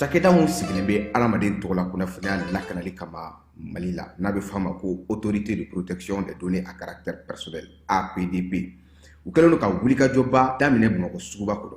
Cakɛda mun sigilen bɛ adamaden tɔgɔ la kunnafoniya lakanali kama Mali la n'a bɛ f'a ma ko autorité de protection des données à caractère personnel, APDP, u kɛlen don ka wulikajɔba daminɛ Bamakɔ suguba kɔnɔ.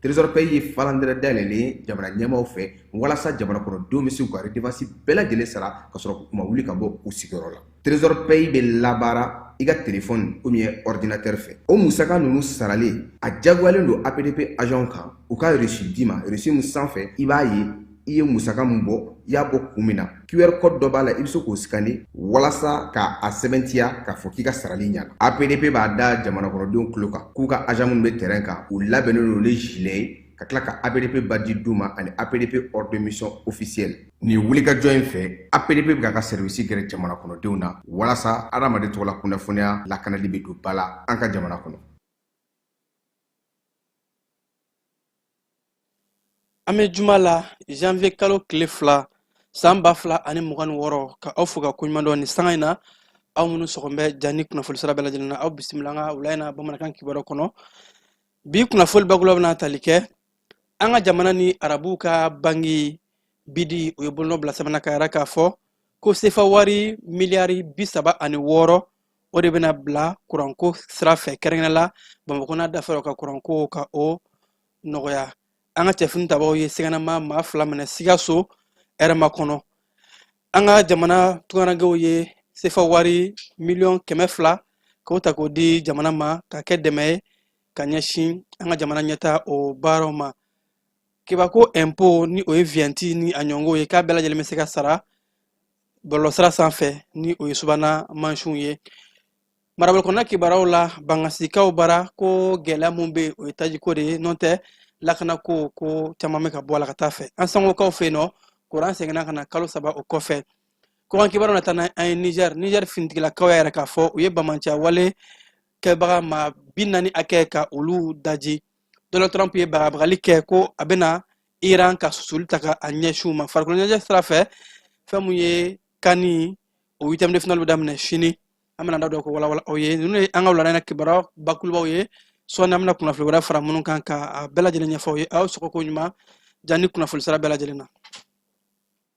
Trésor Paye ye falandɛrɛ dayɛlɛlen ye jamana ɲɛmaaw fɛ walasa jamana kɔnɔ denw bɛ se k'u ka redevance bɛɛ lajɛlen sara k'a sɔrɔ k'u ma wuli ka bɔ u sigiyɔrɔ la. Trésor Paye bɛ labaara i ka telefɔni ou bien ɔridinatɛri fɛ. O musaka ninnu sarali, a diyagoyalen don APDP agents kan u ka reçu d'i ma, reçu min sanfɛ i b'a ye i ye musaka min bɔ i y'a bɔ kun min na qr code dɔ b'a la i bɛ se k'o sikani walasa ka a sɛbɛntiya k'a fɔ k'i ka sarali ɲana apdp b'a da jamanakɔnɔdenw tulo kan k'u ka agent minnu bɛ terrain kan u labɛnnen don ni gilet ye ka tila ka apdp badge d'u ma ani apdp ordre de mission officielle nin wulikajɔ in fɛ apdp bɛ k'a ka sɛriwisi gɛrɛ jamana kɔnɔdenw na walasa adamaden tɔgɔla kunnafoniya lakanali bɛ don ba la an ka jamana kɔnɔ an bɛ juma la janvier kalo tile fila san ba fila ani mugan ni wɔɔrɔ ka aw fo ka koɲuman dɔn ni sanga in na aw minnu sɔgɔn bɛ jani kunnafoni sira bɛɛ lajɛlen na aw bisimila an ka wula in na bamanankan kibaru kɔnɔ bi kunnafoni bakuruba bɛna tali kɛ an ka jamana ni arabuw ka banki bidi u ye bolonɔ bila sɛbɛn na k'a yira k'a fɔ ko sefa wari miliyari bi saba ani wɔɔrɔ o de bɛna bila kuranko sira fɛ kɛrɛnkɛrɛnnen la bamakɔ n'a dafɛrɛ ka kuranko ka o nɔgɔya an ka cɛfini tabaaw ye siganama maa fila minɛ sikaso ɛrɛmakɔnɔ an ka jamana tungarankɛw ye sefa wari miliyɔn kɛmɛ fila k'o ta k'o di jamana ma ka kɛ dɛmɛ ye ka ɲɛsin an ka jamana ɲɛtaa o baaraw ma kebako impôt ni o ye vignette ni a ɲɔgɔnw ye k'a bɛɛ lajɛlen bɛ se ka sara bɔlɔlɔsira sanfɛ ni o ye subana mansinw ye marabolo kɔnɔna kibaruw la bangasikaw bara ko gɛlɛya min bɛ yen o ye tajiko de ye n'o tɛ lakanako ko caman bɛ ka bɔ a la ka taa a fɛ ansongokaw fɛ yen nɔ kuran seginna ka na kalo saba o kɔfɛ kɔkan kibaruw na taa na an ye niger niger finitigilakaw y'a yira k'a fɔ u ye banbaanciya wale kɛbaga maa bi naani hakɛ ka olu daji donald trump ye bagabagali kɛ ko a bɛna iran ka susuli ta ka a ɲɛsin u ma farikolo ɲɛnajɛ sira fɛ fɛn mun ye kani o huitième de finale bɛ daminɛ sini an bɛna da dɔ ko walawala aw ye ninnu ye an ka wulada in na kibaru bakurubaw ye sɔɔni an bɛna kunnafoni wɛrɛ fara minnu kan ka a bɛɛ lajɛlen ɲɛfɔ aw ye aw sɔgɔ ko ɲuman jani kunnafoni sira bɛɛ lajɛlen na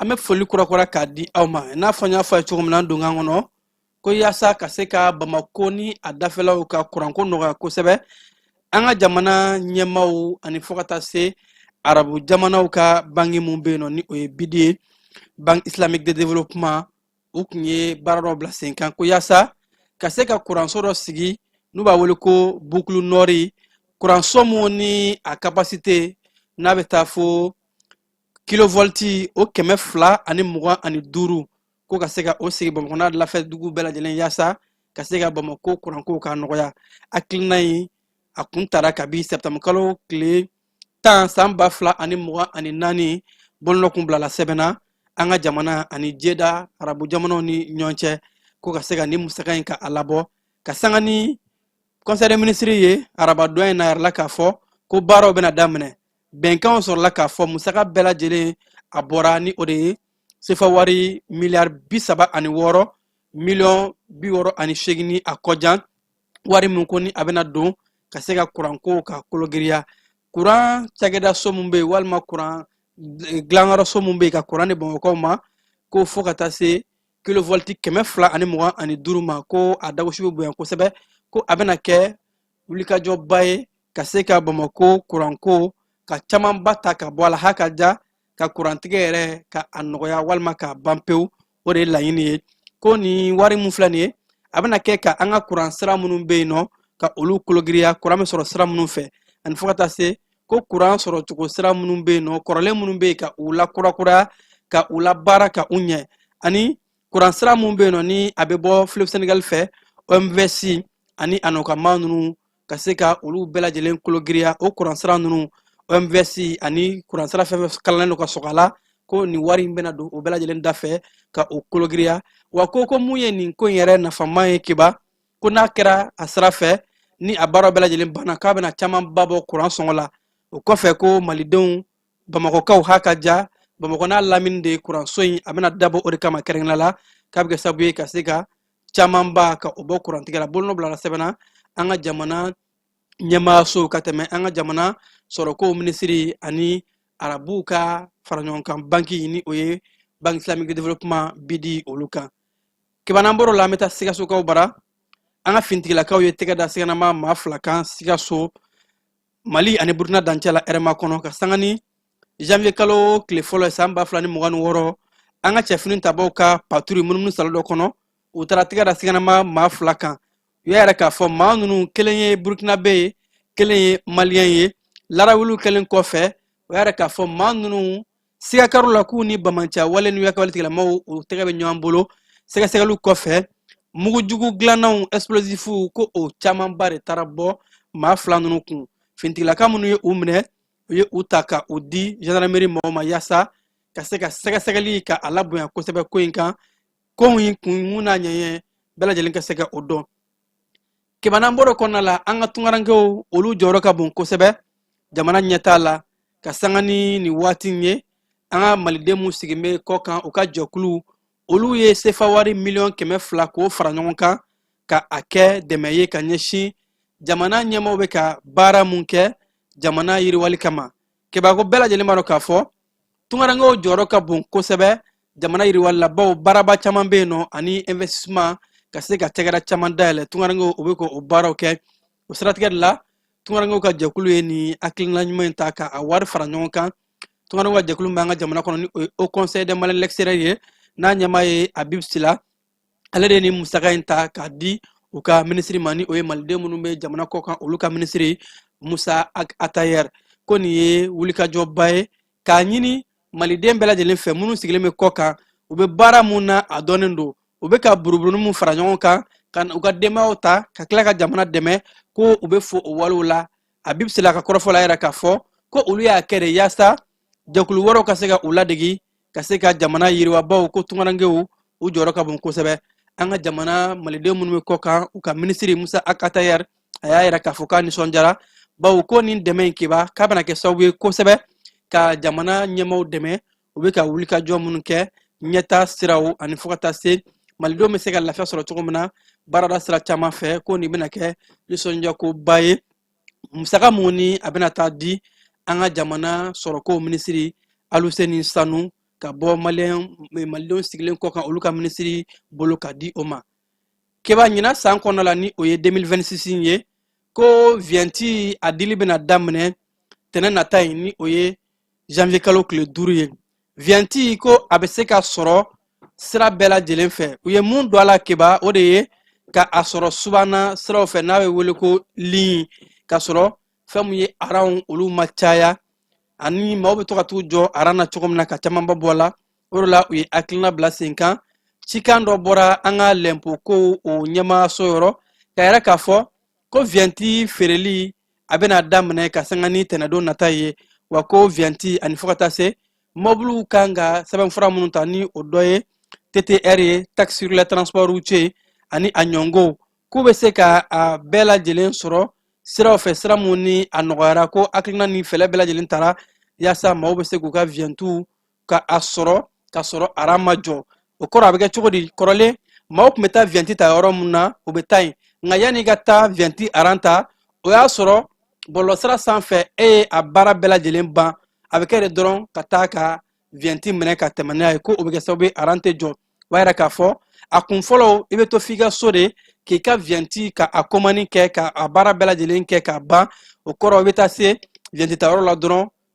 an bɛ foli kurakura k'a di aw ma n'a fɔ n y'a fɔ a ye cogo min na donkan kɔnɔ ko yaasa ka se ka bamako ni a dafɛlaw ka kuranko nɔgɔya kosɛbɛ an ka jamana ɲɛmaaw ani fo ka taa se arabu jamanaw ka bangi mun bɛ yen nɔ ni o ye bidi ye banque islamique de développement u tun ye baara dɔ bila senkan ko yaasa ka se ka kuranso dɔ sigi n'u b'a wele ko bukulu nɔri kuranso mun ni a kapasite n'a bɛ taa fo kilovolti o kɛmɛ fila ani mugan ani duuru ko ka se ka o sigi bamakɔ n'a lafɛ dugu bɛɛ lajɛlen yaasa ka se ka bamakɔ kuranko k'a nɔgɔya hakilina in a kun tara kabi septembre kalo tile tan san ba fila ani mugan ani naani bolonɔ kun bilala sɛbɛn na an ka jamana ani jeda arabu jamanaw ni ɲɔgɔn cɛ ko ka se ka nin musaka in ka a labɔ ka sanga ni conseil des ministres ye arabadon in na yɛrɛ la k'a fɔ ko baaraw bɛna daminɛ bɛnkanw sɔrɔla k'a fɔ musaka bɛɛ lajɛlen a bɔra ni o de ye sefa wari miliyari bi saba ani wɔɔrɔ miliyɔn bi wɔɔrɔ ani seegin ni a kɔjan wari min ko ni a bɛna don ka se ka kuranko ka kologiriya kuran cakɛda so min bɛ yen walima kuran dilanyɔrɔ so min bɛ yen ka kuran di bamakɔkaw ma ko fo ka taa se kilovolti kɛmɛ fila ani mugan ani duuru ma ko a dagosi bɛ bonya kosɛbɛ ko a bɛna kɛ wulikajɔba ye ka se ka bamako kuranko ka camanba ta ka bɔ a la hakaja ka kurantigɛ yɛrɛ ka a nɔgɔya walima k'a ban pewu o de ye laɲini ye ko nin wari min filɛ nin ye a bɛna kɛ ka an ka kuran sira minnu bɛ yen nɔ ka olu kologiriya kuran bɛ sɔrɔ sira minnu fɛ ani fo ka taa se ko kuran sɔrɔ cogo sira minnu bɛ yen nɔ kɔrɔlen minnu bɛ yen ka u lakurakuraya ka u labaara ka u ɲɛ ani kuran sira minnu bɛ yen nɔ ni a bɛ bɔ fleuve sénégal fɛ omvs ani a nɔkama ninnu ka se ka olu bɛɛ lajɛlen kologiriya o kuransira ninnu omvs ani kuransira fɛn fɛn kalannen don ka sɔgɔ a la ko nin wari in bɛna don o bɛɛ lajɛlen da fɛ ka o kologiriya wa ko ko mun ye nin ko in yɛrɛ nafama ye kiba ko n'a kɛra a sira fɛ ni a baaraw bɛɛ lajɛlen banna k'a bɛna camanba bɔ kuran sɔngɔ la o kɔfɛ ko malidenw bamakɔkaw ha ka ja bamakɔ n'a lamini de kuranso in a bɛna dabɔ o de kama kɛrɛnkɛrɛnnen la k'a bɛ kɛ sababu ye ka se ka camanba ka o bɔ kurantigɛ la bolonɔ bilala sɛbɛn na an ka jamana ɲɛmaayaso ka tɛmɛ an ka jamana sɔrɔko minisiri ani arabuw ka faraɲɔgɔnkan banki ni o ye banque islamique de développement bidi olu kan kiba n'an bɔr'o la an bɛ taa sikasokaw bara an ka fintigilakaw ye tɛgɛ da siganama maa fila kan sikaso mali ani burukina dancɛ la hɛrɛmakɔnɔ ka sanga ni janvier kalo tile fɔlɔ ye san ba fila ni mugan ni wɔɔrɔ an ka cɛfini tabaw ka paturi munumunu saalo dɔ kɔnɔ u taara tɛgɛ da siganama maa fila kan u y'a yira k'a fɔ maa ninnu kelen ye burukinabe ye kelen ye maliyɛn ye larawuliw kɛlen kɔfɛ u y'a yira k'a fɔ maa ninnu siga kɛr'u la k'u ni banbaanci wale ni yakawale tigilamɔgɔw u tɛgɛ bɛ ɲɔgɔn bolo sɛgɛsɛgɛliw kɔfɛ mugu jugu dilannanw explosifu ko o camanba de taara bɔ maa fila ninnu kun finitigilaka minnu ye u minɛ u ye u ta ka u di gendarmerie mɔgɔw ma yaasa ka se ka sɛgɛsɛgɛli ka a labonya kosɛbɛ ko in kan ko in kunkun n'a ɲɛɲɛn bɛɛ lajɛlen ka se ka o dɔn kiba n'an bɔr'o kɔnɔna la an ka tungarankew olu jɔyɔrɔ ka bon kosɛbɛ jamana ɲɛtaa la ka sanga ni nin waati in ye an ka maliden minnu sigilen bɛ kɔ kan u ka jɛkuluw olu ye sefawari miliyɔn kɛmɛ fila k'o fara ɲɔgɔn kan ka a kɛ dɛmɛ ye ka ɲɛsin jamana ɲɛmaaw bɛ ka baara mun kɛ jamana yiriwali kama keba ko bɛɛ lajɛlen b'a dɔn k'a fɔ tungarankew jɔyɔrɔ ka bon kosɛbɛ jamana yiriwali la bawo baaraba caman bɛ yen nɔ ani investissement ka se ka cakɛda caman dayɛlɛ tungarankew u bɛ ka o baaraw kɛ o siratigɛ de la tungarankew ka jɛkulu ye nin hakilina ɲuman in ta ka a wari fara ɲɔgɔn kan tungarankew ka jɛkulu bɛ an ka jamana kɔnɔ ni o ye haut conseil des maliens de l'extérieur ye n'a ɲɛmaa ye habib sila ale de ye nin musaka in ta k'a di u ka minisiri ma ni o ye maliden minnu bɛ jamana kɔ kan olu ka minisiri musa ag atayer ko nin ye wulikajɔba ye k'a ɲini maliden bɛɛ lajɛlen fɛ minnu sigilen bɛ kɔ kan u bɛ baara mun na a dɔnnen don u bɛ ka buruburuni mun fara ɲɔgɔn kan ka u ka denbayaw ta ka tila ka jamana dɛmɛ ko u bɛ fo o walew la habib sila ka kɔrɔfɔ la a y'a yira k'a fɔ ko olu y'a kɛ de yaasa jɛkulu wɛrɛw ka se ka u ladegi ka se ka jamana yiriwa bawo ko tungarankew u jɔyɔrɔ ka bon kosɛbɛ an ka jamana maliden minnu bɛ kɔ kan u ka minisiri musa ag atayer a y'a yira k'a fɔ k'a nisɔndiyara bawo ko nin dɛmɛ in kiba k'a bɛna kɛ sababu ye kosɛbɛ ka jamana ɲɛmaaw dɛmɛ u bɛ ka wulikajɔ minnu kɛ ɲɛtaa siraw ani fo ka taa se malidenw bɛ se ka lafiya sɔrɔ cogo min na baarada sira caman fɛ ko nin bɛna kɛ nisɔndiyakoba ye musaka mun ni a bɛna taa di an ka jamana sɔrɔko minisiri aluseni sanu ka bɔ malidenw sigilen kɔ kan olu ka minisiri bolo ka di o ma keba ɲina san kɔnɔ la ni o ye 2026 ye ko viɲɛti a dili bɛna daminɛ tɛnɛn nata in ni o ye janvier kalo tile duuru ye viɲɛti ko a bɛ se ka sɔrɔ sira bɛɛ lajɛlen fɛ u ye mun don a la keba o de ye ka a sɔrɔ subana siraw fɛ n'a bɛ wele ko ligne ka sɔrɔ fɛn min ye aranw olu ma caya ani maaw bɛ to ka t'u jɔ aran na cogo min na ka camanba bɔ a la o de la u ye hakilina bila sen kan cikan dɔ bɔra an ka lɛnpo kow o ɲɛmaayaso yɔrɔ k'a yira k'a fɔ ko viyɛnti feereli a bɛna daminɛ ka sanga ni tɛnɛdon nata ye wa ko viyɛnti ani fo ka taa se mɔbiliw kan ka sɛbɛnfura minnu ta ni o dɔ ye ttr ye taxe sur les transports routiers ani a ɲɔngow k'u bɛ se ka a bɛɛ lajɛlen sɔrɔ siraw fɛ sira mun ni a nɔgɔyara ko hakilina ni fɛɛrɛ bɛɛ lajɛlen tara yaasa maaw bɛ se k'u ka viyɛntiw ka a sɔrɔ ka sɔrɔ aran ma jɔ o kɔrɔ a bɛ kɛ cogo di kɔrɔlen maaw tun bɛ taa viyɛnti ta yɔrɔ min na u bɛ taa yen nka yanni i ka taa viyɛnti aran ta o y'a sɔrɔ bɔlɔlɔsira sanfɛ e ye a baara bɛɛ lajɛlen ban a bɛ kɛ de dɔrɔn ka taa ka viyɛnti minɛ ka tɛmɛ n'a ye ko o bɛ kɛ sababu ye aran tɛ jɔ o b'a yira k'a fɔ a kun fɔlɔ i bɛ to f'i ka so de k'i ka viyɛnti ka a komani kɛ ka a baara bɛɛ lajɛlen kɛ k'a ban o kɔrɔ i bɛ taa se viyɛntitayɔrɔ la dɔrɔn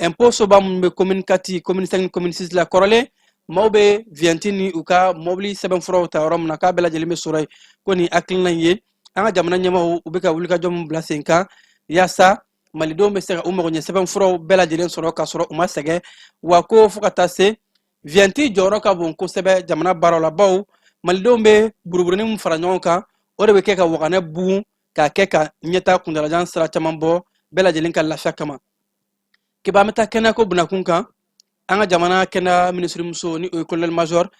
impôt soba minnu bɛ commune quatre commune cinq ni commune six la kɔrɔlen maaw bɛ viyɛnti ni u ka mɔbili sɛbɛnfuraw ta yɔrɔ min na k'a bɛɛ lajɛlen bɛ sɔrɔ yen ko nin hakilina in ye an ka jamana ɲɛmaaw u bɛ ka wulikajɔ min bila sen kan yaasa malidenw bɛ se ka u magoɲɛ sɛbɛnfuraw bɛɛ lajɛlen sɔrɔ k'a sɔrɔ u ma sɛgɛn wa ko fo ka taa se viyɛnti jɔyɔrɔ ka bon kosɛbɛ jamana baaraw la baw malidenw bɛ buruburunin min fara ɲɔgɔn kan o de bɛ kɛ ka waganɛ bugun k'a kɛ ka ɲɛtaa kuntaalajan sira caman bɔ bɛɛ lajɛlen ka lafiya kama kiba an bɛ taa kɛnɛyako bunakun kan an ka jamana kɛnɛya minisirimuso ni o ye kolonɛli major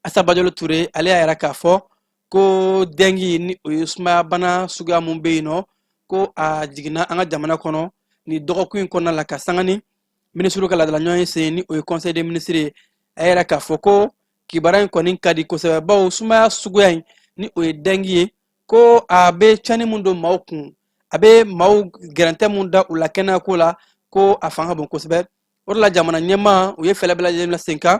asa bajalo ture ale y'a yira k'a fɔ ko dengi ni o ye sumayabana suguya mun bɛ yen nɔ ko a jiginna an ka jamana kɔnɔ ni dɔgɔkun in kɔnɔna la ka sanga ni minisiriw ka laadala ɲɔgɔnye sen ni o ye conseil des ministres ye a y'a yira k'a fɔ ko kibaruya in kɔni ka di kosɛbɛ bawo sumaya suguya in ni o ye dengi ye ko a bɛ cɛnni mun don maaw kun a bɛ maaw gɛrɛntɛ mun da u la kɛnɛya ko la ko a fanga ka bon kosɛbɛ o de la jamana ɲɛmaa u ye fɛɛrɛ bɛɛ lajɛlen bila sen kan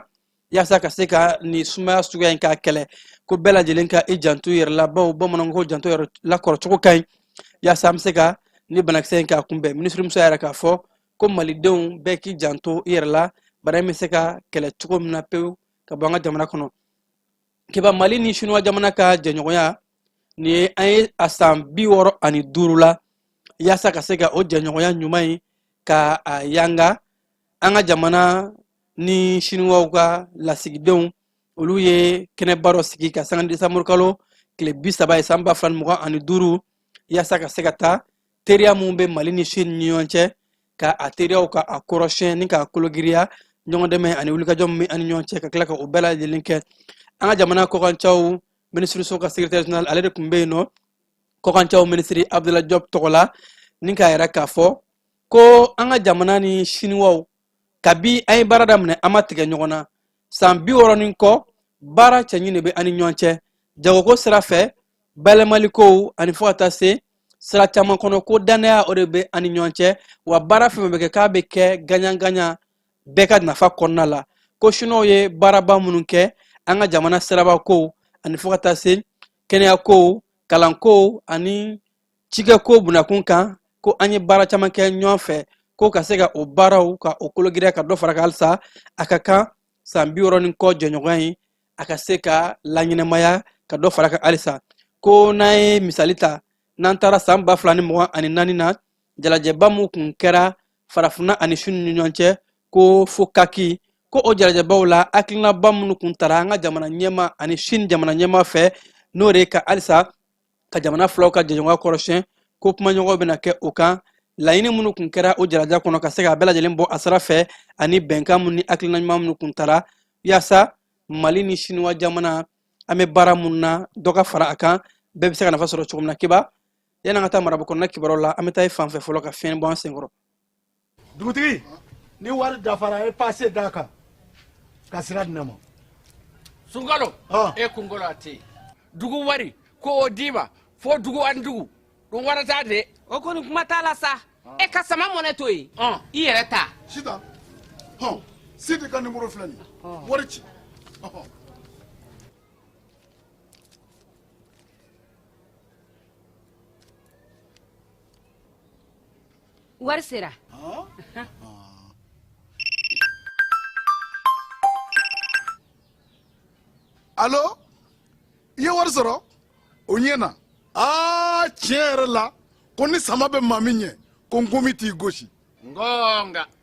yaasa ka se ka nin sumaya suguya in k'a kɛlɛ ko bɛɛ lajɛlen ka i janto i yɛrɛ la bawo bamananw ko janto yɛrɛ la kɔrɔcogo ka ɲi yaasa an bɛ se ka ni banakisɛ in k'a kunbɛn minisirimuso y'a yira k'a fɔ ko malidenw bɛɛ k'i janto i yɛrɛ la bana in bɛ se ka kɛlɛ cogo min na pewu ka bɔ an ka jamana kɔnɔ kiba mali ni sinuwa jamana ka jɛɲɔgɔnya nin ye an ye a san bi wɔɔrɔ ani duuru la yaasa ka se ka o jɛɲɔgɔnya ɲuman in ka a yanga an ka jamana ni sinuwaw ka lasigidenw olu ye kɛnɛba dɔ sigi ka sanga desanburukalo tile bi saba ye san ba fila ni mugan ani duuru yaasa ka se ka taa teriya mun bɛ mali ni sini ni ɲɔgɔn cɛ ka a teriyaw ka a kɔrɔsiyɛn ni k'a kologiriya ɲɔgɔn dɛmɛ ani wulikajɔ min bɛ an ni ɲɔgɔn cɛ ka tila ka o bɛɛ lajɛlen kɛ an ka jamana kɔkancaw minisiriso ka secrétaire général ale de tun bɛ yen nɔ kɔkancaw minisiri abdula jɔb tɔgɔ la ni k'a yira k'a fɔ ko an ka jamana ni siniwaw kabi an ye baara daminɛ an ma tigɛ ɲɔgɔn na san bi wɔɔrɔ ni kɔ baara cɛɲi de bɛ an ni ɲɔgɔn cɛ jagoko sira fɛ bayɛlɛmalikow ani fo ka taa se sira caman kɔnɔ ko dannaya o de bɛ an ni ɲɔgɔn cɛ wa baara fɛn bɛ kɛ k'a bɛ kɛ gaɲagaɲa bɛɛ ka nafa kɔnɔna la ko siniwaw ye baaraba minnu kɛ an ka jamana sirabakow ani fo ka taa se kɛnɛyakow kalankow ani cikɛko bunakun kan ko an ye baara caman kɛ ɲɔgɔn fɛ ko ka se ka o baaraw ka o kologiriya ka dɔ fara kan halisa a ka kan san bi wɔɔrɔ ni kɔ jɛɲɔgɔnya in a ka se ka laɲɛnamaya ka dɔ fara kan halisa ko n'an ye misali ta n'an taara san ba fila ni mugan ani naani na jalajɛba min kun kɛra farafinna ani sini ni ɲɔgɔn cɛ ko fokaki ko o jalajɛbaw la hakilinaba minnu kun tara an ka jamana ɲɛmaa ani sini jamana ɲɛmaa fɛ n'o de ye ka halisa ka jamana filaw ka jɛɲɔgɔnya kɔrɔsiyɛn ko kumaɲɔgɔnw bɛna kɛ o kan laɲini minnu kun kɛra o jalajɛ kɔnɔ ka se ka bɛɛ lajɛlen bɔ a sira fɛ ani bɛnkan minnu ni hakilina ɲuman minnu kun tara yaasa mali ni siniwa jamana an bɛ baara minnu na dɔ ka fara a kan bɛɛ bɛ se ka nafa sɔrɔ cogo min na kiba yanni an ka taa marabaw kɔnɔna kibaruw la an bɛ taa i fan fɛ fɔlɔ ka fiɲɛ bɔ an senkɔrɔ dugutigi ni wari dafara ye pase d'a kan ka sira di ne ma sunkalo e kunkolo a tɛ yen dugu wari ko o d'i ma fo dugu ani dugu dun wari t'a de o kɔni kuma t'a la sa e ka sama money to yen i yɛrɛ ta sita hɔn sidi ka nimoro filɛ nin wari ci wari sera alo i ye wari sɔrɔ o ɲɛ na aa tiɲɛ yɛrɛ la ko ni sama bɛ maa min ɲɛ ko nkomi t'i gosi ngonga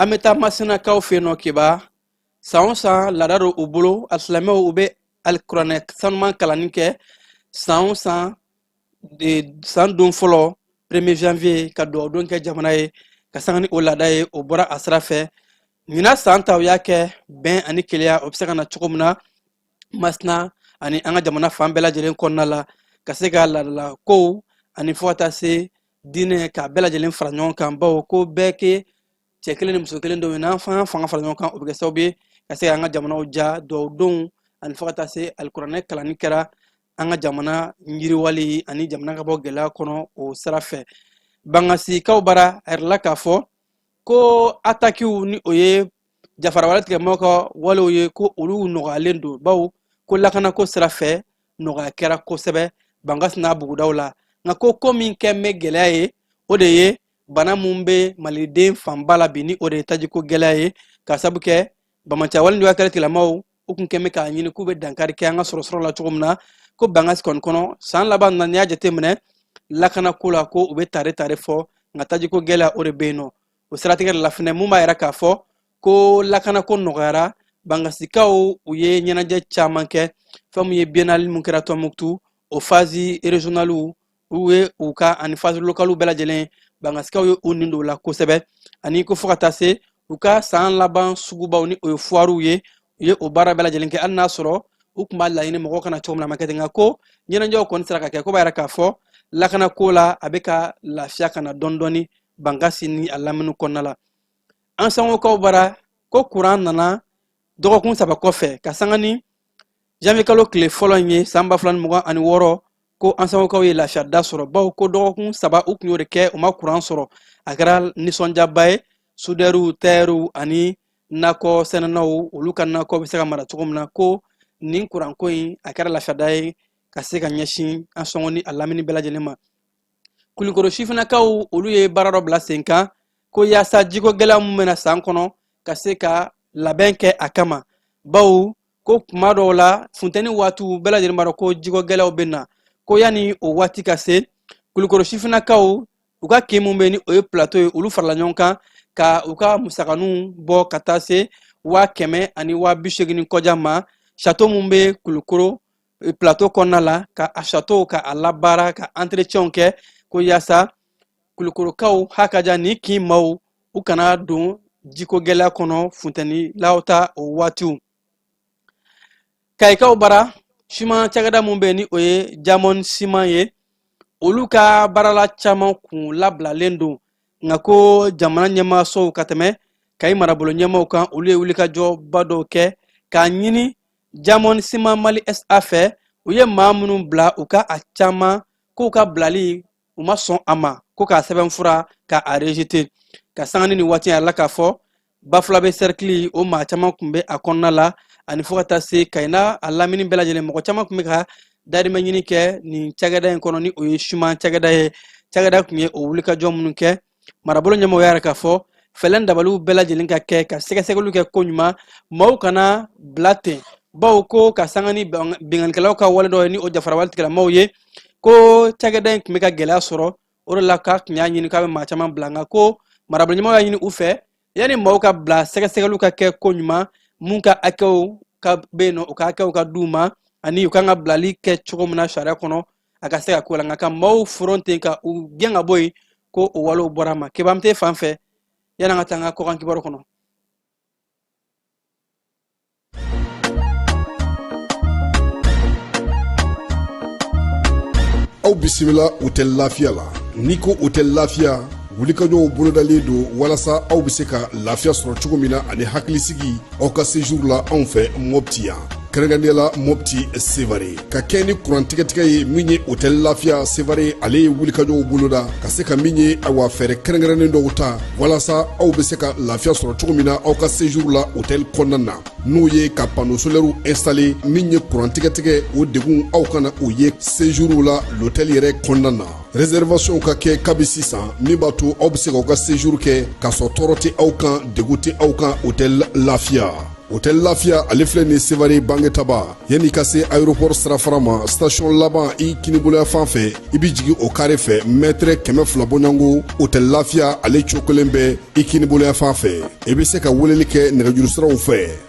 an bɛ taa masinakaw fɛ yen nɔ kiba san o san laada don u bolo alisilamɛw u bɛ alikuranɛ sanuman kalanni kɛ san o san san don fɔlɔ premier janvier ka dugawu don kɛ jamana ye ka sanga ni o laada ye o bɔra a sira fɛ ɲinan san ta u y'a kɛ bɛn ani kelenya o bɛ se ka na cogo min na masina ani an ka jamana fan bɛɛ lajɛlen kɔnɔna la ka se ka laadala kow ani fo ka taa se diinɛ k'a bɛɛ lajɛlen fara ɲɔgɔn kan bawo ko bɛɛ ye cɛ kelen ni muso kelen denw ye n'an fana fanga fara ɲɔgɔn kan o bɛ kɛ sababu ye ka se ka an ka jamanaw jɔ duwawudonw ani fo ka taa se alikuranɛ kalanni kɛra an ka jamana yiriwali ani jamana ka bɔ gɛlɛya kɔnɔ o sira fɛ bangasikaw bara a yɛrɛ la k'a fɔ ko atakiw ni o ye jafarawale tigilamɔgɔw ka walew ye ko olu nɔgɔyalen don bawo ko lakanako sira fɛ nɔgɔya kɛra kosɛbɛ bangasi n'a bugudaw la nka ko ko min kɛn bɛ gɛlɛya ye o de ye bana min bɛ maliden fanba la bi ni o de ye tajiko gɛlɛya ye ka sabu kɛ bamacawale ni wakɛlɛ tigilamaw u kun kɛn bɛ k'a ɲini k'u bɛ dankari kɛ an ka sɔrɔsɔrɔ la cogo min na ko bangasi kɔni kɔnɔ san laban na n'i y'a jateminɛ lakanako la ko u bɛ tare tare fɔ nka tajiko gɛlɛya o de bɛ yen nɔ o siratigɛ de la fɛn mun b'a yira k'a fɔ ko lakanako nɔgɔyara bangasikaw u ye ɲɛnajɛ caman kɛ fɛn min ye biennale mun kɛra tɔnbukutu o phase régionalew u ye u kɛ ani phase localew bɛɛ lajɛlen bangasikaw ye u nin don la kosɛbɛ ani ko fo ka taa se u ka san laban sugubaw ni o ye foirew ye u ye o baara bɛɛ lajɛlen kɛ hali n'a sɔrɔ u tun b'a laɲini mɔgɔw ka na cogo min na a ma kɛ ten nka ko ɲɛnajɛw kɔni sera ka kɛ ko b'a yira k'a fɔ lakanako la a bɛ ka lafiya ka na dɔɔni dɔɔni bangasi ni a lamini kɔnɔna la ansongokaw bara ko kuran nana dɔgɔkun saba kɔfɛ ka sanga ni janvier kalo tile fɔlɔ in ye san ba fila ni mugan ani wɔɔrɔ ko ansongokaw ye lafiyada sɔrɔ bawo ko dɔgɔkun saba u tun y'o de kɛ u ma kuran sɔrɔ a kɛra nisɔndiyaba ye sudɛriw tayɛriw ani nakɔ sɛnɛnaw olu ka nakɔ bɛ se ka mara cogo min na ko nin kuranko in a kɛra lafiyada ye ka se ka ɲɛsin ansongo ni a lamini bɛɛ lajɛlen ma kulikoro sifinakaw olu ye baara dɔ bila sen kan ko yaasa jiko gɛlɛya min bɛ na san kɔnɔ ka se ka labɛn kɛ a kama bawo ko kuma dɔw la funteni waatiw bɛɛ lajɛlen b'a dɔn ko jiko gɛlɛyaw bɛ na ko yanni o waati ka se kulukoro sifinakaw u ka kin min bɛ ni o ye plateau ye olu farala ɲɔgɔn kan ka u ka musakaninw bɔ ka taa se waa kɛmɛ ani waa bi seegin kɔja ma château min bɛ kulukoro plateau kɔnɔna la ka a châteauw ka a labaara ka entretienw kɛ ko yaasa kulukorokaw hakaja nin kin maaw u kana don jiko gɛlɛya kɔnɔ funtɛnilaw ta o waatiw kayikaw bara siman cakɛda min bɛ ni o ye diamond siman ye olu ka baarala caman kun labilalen don nka ko jamana ɲɛmaasow ka tɛmɛ kayi marabolo ɲɛmaaw kan olu ye wulikajɔba dɔw kɛ k'a ɲini diamond siman mali SA fɛ u ye maa minnu bila u ka a caman k'u ka bilali u ma sɔn a ma ko k'a sɛbɛnfura ka a rejeter ka sanga ni nin waati yɛrɛ la k'a fɔ bafulabɛ sɛrikili o maa caman tun bɛ a kɔnɔna la ani fo ka taa se kayi n'a lamini bɛɛ lajɛlen mɔgɔ caman tun bɛ ka dahirimɛ ɲini kɛ nin cakɛda in kɔnɔ ni o ye siman cakɛda ye cakɛda tun ye o wulikajɔ minnu kɛ marabolo ɲɛmɔgɔ y'a yira k'a fɔ fɛlɛn dabaliw bɛɛ lajɛlen ka kɛ ka sɛgɛsɛgɛliw kɛ ko ɲuman maaw kana bila ten bawo ko ka sanga ni binkanikɛlaw ka wale dɔ ye ni o jafarawale tigilamaw ye ko cakɛda in kun bɛ ka gɛlɛya sɔrɔ o de la k'a kun y'a ɲini k'a bɛ maa caman bila nka ko marabolo ɲɛmɔgɔ y'a ɲini u fɛ yanni maaw ka bila sɛgɛsɛgɛliw ka kɛ ko ɲuman mun ka hakɛw ka bɛ yen nɔ u ka hakɛw ka di u ma ani u kan ka bilali kɛ cogo min na sariya kɔnɔ a ka se ka k'o la nka ka maaw foron ten ka u gɛn ka bɔ yen ko o walew bɔra ma kebam te fan fɛ yanni an ka taa an ka kɔkan kibaru kɔnɔ aw bisimila otɛli lafiya la n'i ko otɛli lafiya wulikajɔw bolodalen don walasa aw be se ka lafiya sɔrɔ cogo min na ani hakilisigi aw ka sejuru la anw fɛ mɔpti yan kɛrɛnkɛrɛnnenya la mɔpti sevare ka kɛɲɛ ni kurantigɛtigɛ ye min ye otɛli lafiya sevare ale ye wulikajɔw boloda ka se ka min ye awa fɛɛrɛ kɛrɛnkɛrɛnnen dɔw ta walasa aw be se ka lafiya sɔrɔ cogo min na aw ka sejuru la otɛli kɔnɔna na n'o ye ka pano solɛriw instale min ye kurantigɛtigɛ o degun aw kana o ye sejuru la lotɛli yɛrɛ kɔnɔna na reservation ka kɛ kabi sisan min b'a to aw bɛ se k'aw ka séjour kɛ k'a sɔrɔ tɔɔrɔ tɛ aw kan degun tɛ aw kan hôtel lafiya hôtel lafiya ale filɛ nin sevare bangetaba yann'i ka se aéroport sirafara ma station laban i kininbolo yanfan fɛ i bɛ jigin o kare fɛ mɛtɛrɛ kɛmɛ fila bɔɲɔgɔnko hôtel lafiya ale cokolen bɛ i kininbolo yanfan fɛ i bɛ se ka weleli kɛ nɛgɛjurusiraw fɛ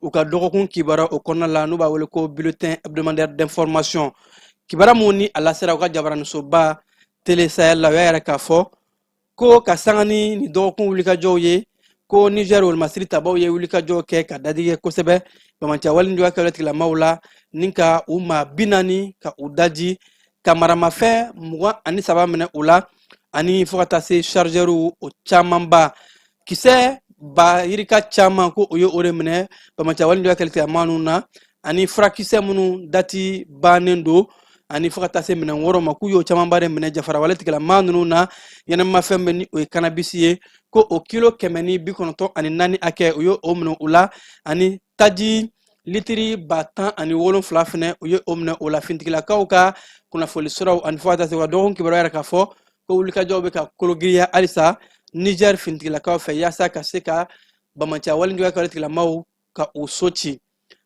u ka dɔgɔkun kibaro kɔnɔna la n'u b'a wele ko bulletin hebdomadaire d'information kibara mun ni a lasera u ka jabaranisoba tele sahel la u y'a yira k'a fɔ ko ka sanga ni nin dɔgɔkun wulikajɔw ye ko niger wolomasiri tabaw ye wulikajɔ kɛ ka dadigi kɛ kosɛbɛ bamanciya walejuguya kɛwale tigilamaw la ni ka u maa bi naani ka u daji ka maramafɛn mugan ani saba minɛ u la ani fo ka taa se chargɛriw o camanba kisɛ ba yirika caman ko u ye o de minɛ bamanciya walejugu kɛwale tigilama ninnu na ani furakisɛ minnu dati bannen don ani fo ka taa se minɛn wɛrɛw ma k'u y'o camanba de minɛ jafarawale tigilama ninnu na ɲɛnaminifɛn bɛ ni o ye kanabisi ye ko o kilo kɛmɛ ni bi kɔnɔntɔn ani naani hakɛ u ye o minɛ u la ani taji litiri ba tan ani wolonfila fɛnɛ u ye o minɛ u la finitigilakaw ka kunnafoni siraw ani fo ka taa se u ka dɔgɔkun kibaru y'a yira k'a fɔ ko wulikajɔw bɛ ka kologiriya halisa niger finitigilakaw fɛ yaasa ka se ka bamanciya walejuguya kɛwale tigilamaw ka u so ci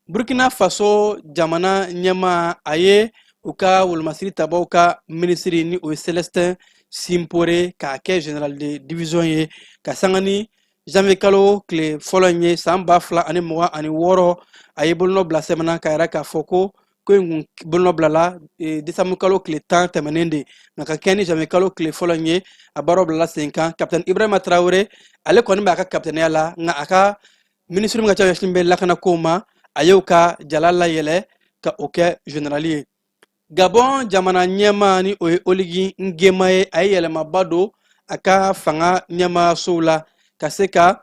burkina faso jamana ɲɛmaa ye u ka wolomasiri tabaw ka minisiri ni o ye celestin simpore k'a kɛ general de division ye ka sanga ni janvier kalo tile fɔlɔ in ye san ba fila ani mugan ani wɔɔrɔ a ye bolonɔ bila sɛbɛn na k'a yira k'a fɔ ko ko in kun bolonɔ bilala e, desanbu kalo tile tan tɛmɛnen de nka ka kɛɲɛ ni janvier kalo tile fɔlɔ in ye a baaraw bilala sen kan kapitɛni ibrahima tarawele ale kɔni b'a ka kapitɛniya la nka a ka minisiri min ka ca ɲɛsinnen bɛ lakanakow ma a y'o ka jala layɛlɛ ka o kɛ generali ye gabɔn jamana ɲɛmaa ni o ye oligi ngema ye a ye yɛlɛmaba don a ka fanga ɲɛmaasow la ka se ka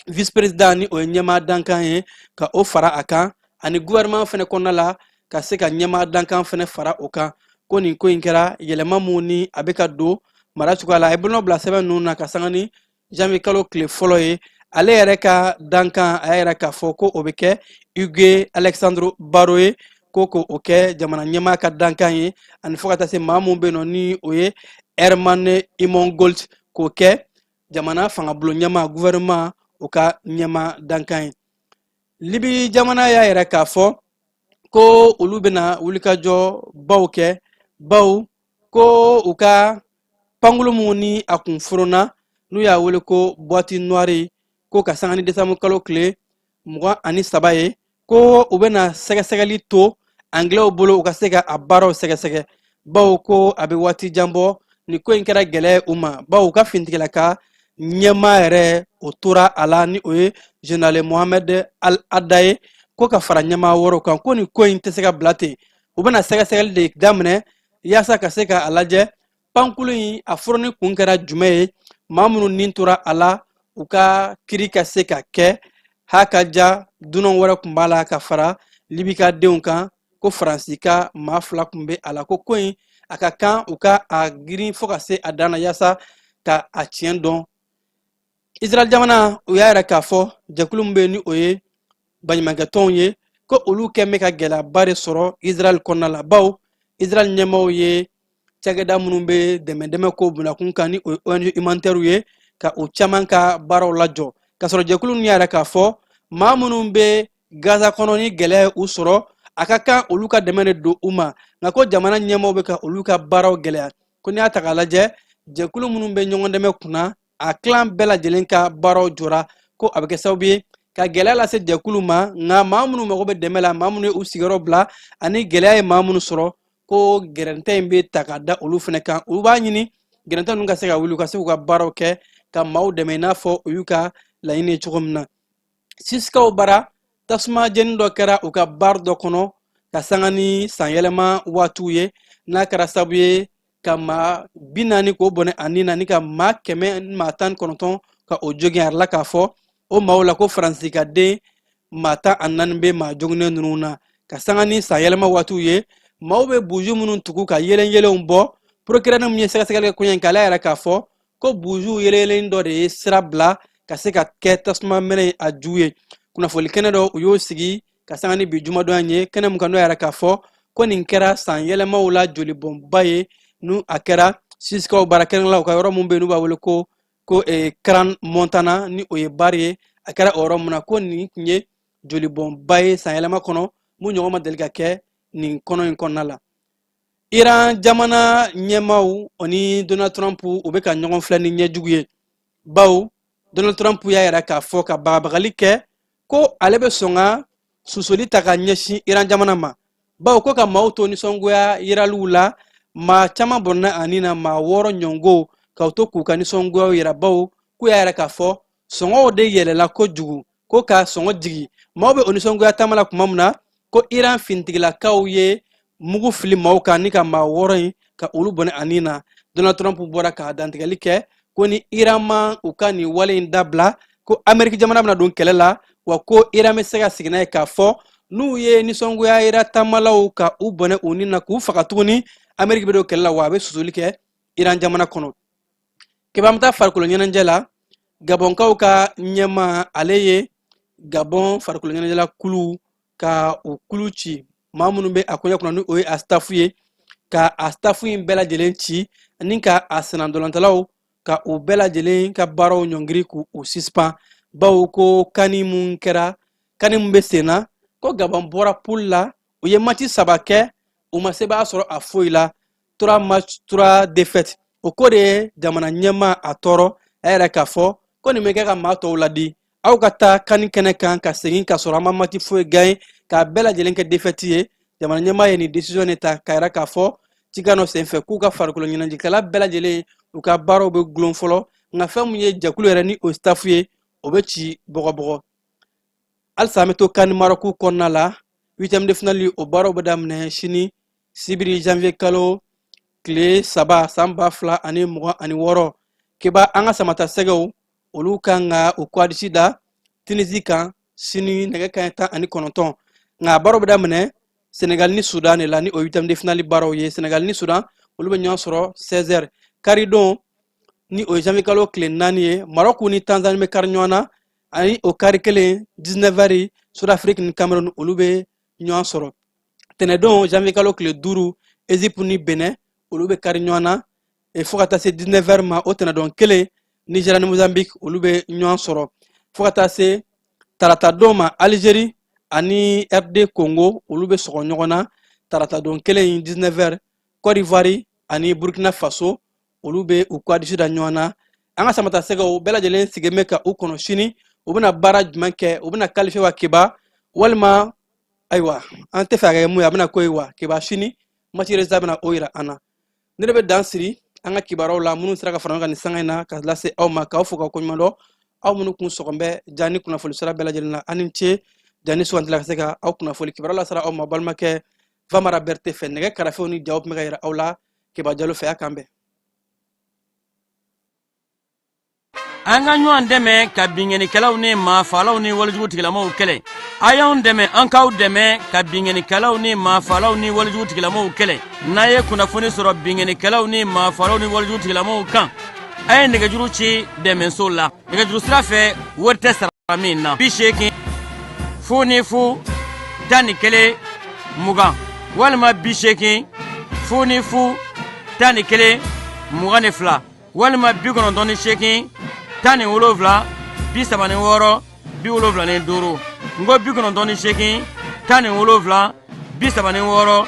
vice president ni o ye ɲɛmaa dankan ye ka o fara a kan ani gouvernement fana kɔnɔna la ka se ka ɲɛmaa dankan fana fara o kan ko nin ko in kɛra yɛlɛma mun ni a bɛ ka don mara cogoya la a ye bolonɔ bila sɛbɛn ninnu na ka sanga ni janvier kalo tile fɔlɔ ye ale yɛrɛ ka dankan a y'a yira k'a fɔ ko o bɛ kɛ hugues alexandre barro ye ko ko o kɛ jamana ɲɛmaa ka dankan ye ani fo ka taa se maa mun bɛ yen nɔ ni o ye hermann immongault k'o kɛ jamana fangabolo ɲɛmaa gouvernement o ka ɲɛmaa dankan ye libi jamana y'a yira k'a fɔ ko olu bɛna wulikajɔbaw kɛ baw ko u ka pankulu mun ni a kun foronna n'u y'a wele ko buwati nuwari ko ka sanga ni desanbu kalo tile mugan ani saba ye ko u bɛna sɛgɛsɛgɛli to angilɛw bolo u ka se ka a baaraw sɛgɛsɛgɛ baw ko a bɛ waati jan bɔ nin ko in kɛra gɛlɛya u ma baw u ka fintigilaka ɲɛmaa yɛrɛ o tora a la ni o ye general mohamɛd al haddad ye ko ka fara ɲɛmaa wɛrɛw kan ko nin ko in tɛ se ka bila ten u bɛna sɛgɛsɛgɛli de daminɛ yaasa ka se ka a lajɛ pankulu in a foronni kun kɛra jumɛn ye maa minnu nin tora a la u ka kiri ka se ka kɛ ha ka ja dunan wɛrɛ kun b'a la ka fara libika denw kan ko faransi ka maa fila kun bɛ a la ko ko in a ka kan u ka a girin fo ka se a dan na yaasa ka a tiɲɛ dɔn israel jamana u y'a yira k'a fɔ jɛkulu min bɛ yen ni o ye baɲumankɛtɔnw ye ko olu kɛn bɛ ka gɛlɛyaba de sɔrɔ israel kɔnɔna la baw israel ɲɛmaaw ye cakɛda minnu bɛ dɛmɛ dɛmɛ ko bunakun kan ni o ye ong humanitaire ye ka o caman ka baaraw lajɔ k'a sɔrɔ jɛkulu ninnu y'a yira k'a fɔ maa minnu bɛ gaza kɔnɔ ni gɛlɛya ye u sɔrɔ a ka kan olu ka dɛmɛ de don u ma nka ko jamana ɲɛmaaw bɛ ka olu ka baaraw gɛlɛya ko n'i y'a ta k'a lajɛ jɛkulu minnu bɛ ɲɔgɔn dɛmɛ kunna a kilan bɛɛ lajɛlen ka baaraw jɔra ko a bɛ kɛ sababu ye ka gɛlɛya lase jɛkulu ma nka maa minnu mago bɛ dɛmɛ la maa minnu ye u sigiyɔrɔ bila ani gɛlɛya ye maa minnu sɔrɔ ko gɛrɛntɛ in bɛ taa ka da olu fana kan olu b'a ɲini gɛrɛntɛ ninnu ka se ka wuli u ka se k'u ka baaraw kɛ ka maaw dɛmɛ i n'a fɔ u y'u ka laɲini ye cogo min na siskaw bara tasuma jeni dɔ kɛra u ka bar dɔ kɔnɔ ka sanga ni sanyɛlɛma waatiw ye n'a kɛra sabu ye ka maa bi naani k'o bɔnɛ a ni na ni ka maa kɛmɛ maa tan kɔnɔntɔn ka o jogin a yirala k'a fɔ o maaw la ko faransi ka den maa tan ani naani bɛ maa joginnen ninnu na ka sanga ni sanyɛlɛma waatiw ye maaw bɛ buju minnu tugu ka yelenyelenw bɔ porokirɛri min ye sɛgɛsɛgɛli kɛ koɲɛ in k'ale y'a yira k'a fɔ ko buzu yeleyelen dɔ de ye sira bila ka se ka kɛ tasuma mɛnɛ a ju ye kunnafoni kɛnɛ dɔ u y'o sigi ka sanga ni bi jumadon ye kɛnɛ mun kan n'u y'a yira k'a fɔ ko nin kɛra san yɛlɛmaw la jolibɔnba ye n'a kɛra sisikaw bara k'olu ka yɔrɔ mun bɛ yen n'u b'a wele ko ko eh, crans montana ni o ye bari ye a kɛra o yɔrɔ mun na ko nin tun ye jolibɔnba ye san yɛlɛma kɔnɔ mun ɲɔgɔn ma deli ka kɛ nin kɔnɔ in kɔnɔna la iran jamana ɲɛmaaw o ni donald trump u bɛ ka ɲɔgɔn filɛ ni ɲɛ jugu ye bawo donald trump y'a yira k'a fɔ ka bagabagali kɛ ko ale bɛ sɔn ka susuli ta ka ɲɛsin iran jamana ma bawo ko ka maaw to nisɔngoya yiraliw la maa caman bɔnɛna a ni na maa wɔɔrɔ ɲɔgɔn ka u to k'u ka nisɔngoyaw yira bawo k'u y'a yira k'a fɔ sɔngɔw de yɛlɛla kojugu ko ka sɔngɔ jigi maaw bɛ o nisɔngoya taama la tuma min na ko iran finitigilakaw ye mugu fili maaw kan ni ka maa wɔɔrɔ in ka olu bɔnɛ a ni na donald trump bɔra ka dantigɛli kɛ ko ni iran ma u ka nin wale in dabila ko ameriki jamana bɛna don kɛlɛ la wa ko iran bɛ se ka sigi n'a ye k'a fɔ n'u ye nisɔngoya yira taamalaw ka u bɔnɛ u ni na k'u faga tuguni ameriki bɛ don kɛlɛ la wa a bɛ susuli kɛ iran jamana kɔnɔ k'i b'an taa farikolo ɲɛnajɛ la gabɔnkaw ka ɲɛmaa ale ye gabɔn farikolo ɲɛnajɛla kulu ka u kulu ci maa minnu bɛ a koɲɛ kunna ni o ye a stafu ye ka a stafu in bɛɛ lajɛlen ci ani ka a senna ntolatannaw ka u bɛɛ lajɛlen ka baaraw ɲɔngiri k'u suspan bawo ko kani mun kɛra kani mun bɛ sen na ko gabɔn bɔra pul la u ye mati saba kɛ u ma sebaaya sɔrɔ a foyi la trois match trois défaite o ko de ye jamana ɲɛmaa tɔɔrɔ a y'a yira k'a fɔ ko nin bɛ kɛ ka maa tɔw ladi aw ka taa kani kɛnɛ kan ka segin ka sɔrɔ aw ma mati foyi gagné k'a bɛɛ lajɛlen kɛ défaite ye jamana ɲɛmaa ye nin décision de ta k'a yira k'a fɔ cikan dɔ senfɛ k'u ka farikolo ɲɛnajɛkɛla bɛɛ lajɛlen u ka baaraw bɛ gulon fɔlɔ nka fɛn min ye jɛkulu yɛrɛ ni o staff ye o bɛ ci bɔgɔbɔgɔ halisa an bɛ to kani marɔku kɔnɔna la huitième de finale o baaraw bɛ daminɛ sini sibiri janvier kalo tile saba san ba fila ani mugan ani wɔɔrɔ keba an ka samatasɛgɛw olu kan ka u kwadisi da tinizi kan sini nɛgɛ kanɲɛ tan ani kɔnɔntɔn nka baaraw bɛ daminɛ senegal ni sudan de la ni o ye huitième de finale baaraw ye senegal ni sudan olu bɛ ɲɔgɔn sɔrɔ 16 heures karidon ni o ye janvier kalo tile naani ye marɔku ni tanzanie bɛ kari ɲɔgɔn na ani o kari kelen 19 heures sud afrique ni cameroun olu bɛ ɲɔgɔn sɔrɔ tɛnɛdon janvier kalo tile duuru égypte ni benɛ olu bɛ kari ɲɔgɔn na e, fo ka taa se 19 heures ma o tɛnɛdon kelen nigeria ni mozambique olu bɛ ɲɔgɔn sɔrɔ fo ka taa se taratadon ma algérie ani rd congo olu bɛ sɔgɔ ɲɔgɔn na taratadon kelen 19 heures côte d'ivoire ani burkina faso olu bɛ u kwadisi da ɲɔgɔn na an ka samatasɛgɛw bɛɛ lajɛlen sigilen bɛ ka u kɔnɔ sini u bɛna baara jumɛn kɛ u bɛna qualifier wa keba walima ayiwa an tɛ fɛ a kɛ min ye a bɛna k'o ye wa keba sini match résultat bɛna o yira an na nin de bɛ dan siri an ka kibaruyaw la minnu sera ka fara ɲɔgɔn kan nin sanga in na ka lase aw ma k'aw fo k'aw koɲuman dɔn aw minnu kun sɔgɔn bɛ ja ni kunnafoni sira bɛɛ lajɛlen na aw ni ce ja ni sugantila ka se ka aw kunnafoni kibaruya lasera aw ma balimakɛ famara berete fɛ nɛgɛ karafew ni jaw tun bɛ ka yira aw la keba jalo fɛ a k'an bɛn an ka ɲɔgɔn dɛmɛ ka binkannikɛlaw ni maafalaw ni walejugu tigilamaw kɛlɛ a y'anw dɛmɛ an k'aw dɛmɛ ka binkannikɛlaw ni maafalaw ni walejugu tigilamaw kɛlɛ n'a ye kunnafoni sɔrɔ binkannikɛlaw ni maafalaw ni walejugu tigilamaw kan a ye nɛgɛjuru ci dɛmɛso la nɛgɛjuru sira fɛ wari tɛ sara min na bi seegin fu ni fu tan ni kelen mugan walima bi seegin fu ni fu tan ni kelen mugan ni fila walima bi kɔnɔntɔn ni seegin tan ni wolonfila bi saba ni wɔɔrɔ bi wolonfila ni duuru n ko bi kɔnɔntɔn ni seegin tan ni wolonfila bi saba ni wɔɔrɔ